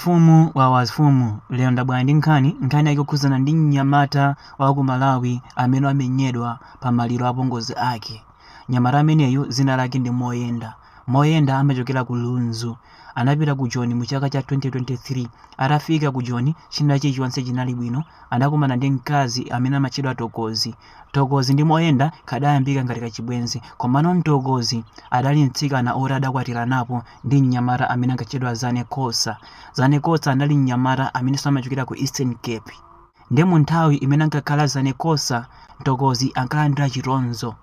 Mfumu wawa mfumu, lero ndabwera ndi nkhani, nkhani yake ikukhudzana ndi mnyamata wa ku Malawi amene wamenyedwa pa maliro a pongozi ake. Mnyamata ameneyu dzina lake ndi Moyenda. Moyenda amachokera ku Lunzu. Anapita ku Joni mu chaka cha 2023. Atafika ku Joni, china chilichonse chinali bwino. Anakumana ndi mkazi amene amatchedwa Mtokozi. Mtokozi ndi Moyenda kadayambika ngati kachibwenzi, komano Mtokozi adali mtsikana oti adakwatiranapo ndi mnyamata amene ankatchedwa Zane Kosa. Zane Kosa anali mnyamata amenenso amachokera ku Eastern Cape. Nde mu nthawi imene ankakhala Zane Kosa, Mtokozi ankalandira chitonzo.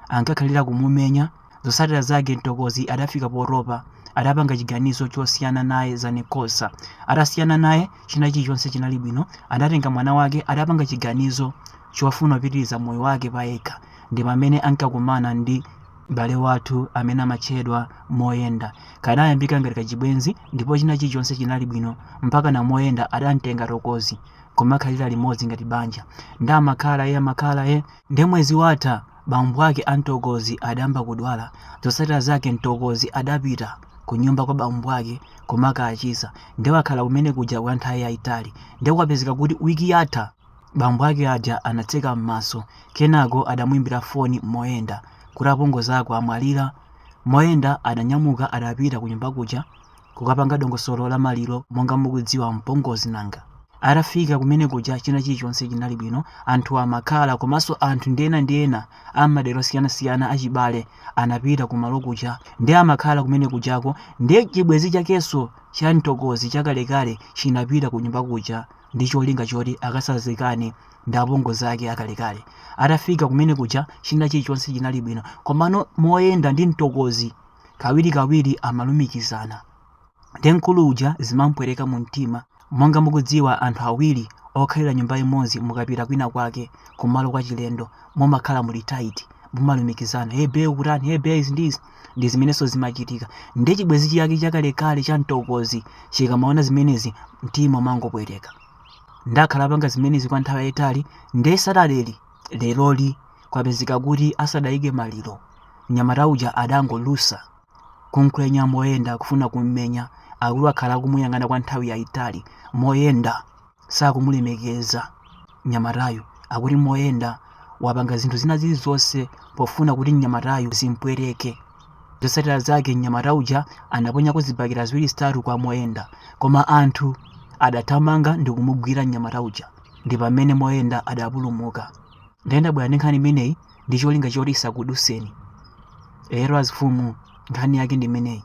Ankakhalira kumumenya, zotsatira zake Mtokozi adafika potopa, adapanga chiganizo chosiyana naye Zane Kosa. Atasiyana naye, china chilichonse chinali bwino, adatenga mwana wake, adapanga chiganizo chofuna kupitiriza moyo wake payekha. Ndi pamene ankakumana ndi M'bale wathu amene amatchedwa Moyenda kadayambika ngati kachibwenzi ndipo china chilichonse chinali bwino mpakana Moyenda adamtenga Mtokozi nkumakhalira limodzi ngati banja nde amakhala ee amakhala ee. Nde mwezi watha bambo ake a Mtokozi adayamba kudwala, zotsatira zake Mtokozi adapita kunyumba kwa bambo ake kumakachiza nde wakhala kumene kuja kwa nthawi yaitali nde kwapezeka kuti week yatha, Bambo ake aja anatseka m'maso, kenako adamuimbira foni Moyenda kuti apongozi ako amwalira. Moyenda adanyamuka adapita kunyumba kuja kukapanga dongosolo la maliro monga mukudziwa mpongozi nanga. Atafika kumene kuja china chilichonse chinali bwino, anthu amakhala komanso anthu ndi ena ndi ena a m'madera osiyanasiyana achibale anapita kumalo kuja ndiye amakhala kumene kujako ndiye chibwenzi chakenso cha Mtokozi chakalekale chinapita kunyumba kuja ndi cholinga choti akasazikane ndi apongozi ake akalekale. Atafika kumene kuja china chilichonse chinali bwino, komano Moyenda ndi Mtokozi kawirikawiri amalumikizana. Nde mkulu uja zimampweteka mu mtima. Monga mukudziwa anthu awiri okhalira nyumba imodzi mukapita kwina kwake kumalo kwachilendo mumakhala muli tight, mumalumikizana, hey bae ukutani, hey bae izi ndi izi. ndi zimenenso zimachitika ndiye chibwenzi chake chakalekale cha Mtokozi chikamaona zimenezi mtima umangopweteka nde akhala akupanga zimenezi kwa nthawi yayitali ndiye Saturday leroli kwapezeka kuti asadayike maliro mnyamata uja adangolusa kumkwenya Moyenda kufuna kummenya akuti akhala akumuyang'ana kwa nthawi yayitali Moyenda sakumulemekeza mnyamatayu akuti Moyenda wapanga zinthu zina zilizonse pofuna kuti mnyamatayu zimpweteke zotsatira zake mnyamata uja anaponyako zibakera ziwiri zitatu kwa Moyenda koma anthu adathamanga ndi kumugwira mnyamata uja ndi pamene Moyenda adapulumuka nde ine ndabwera ndi nkhani imeneyi ndi cholinga choti isakuduseni lero azimfumu nkhani yake ndi imeneyi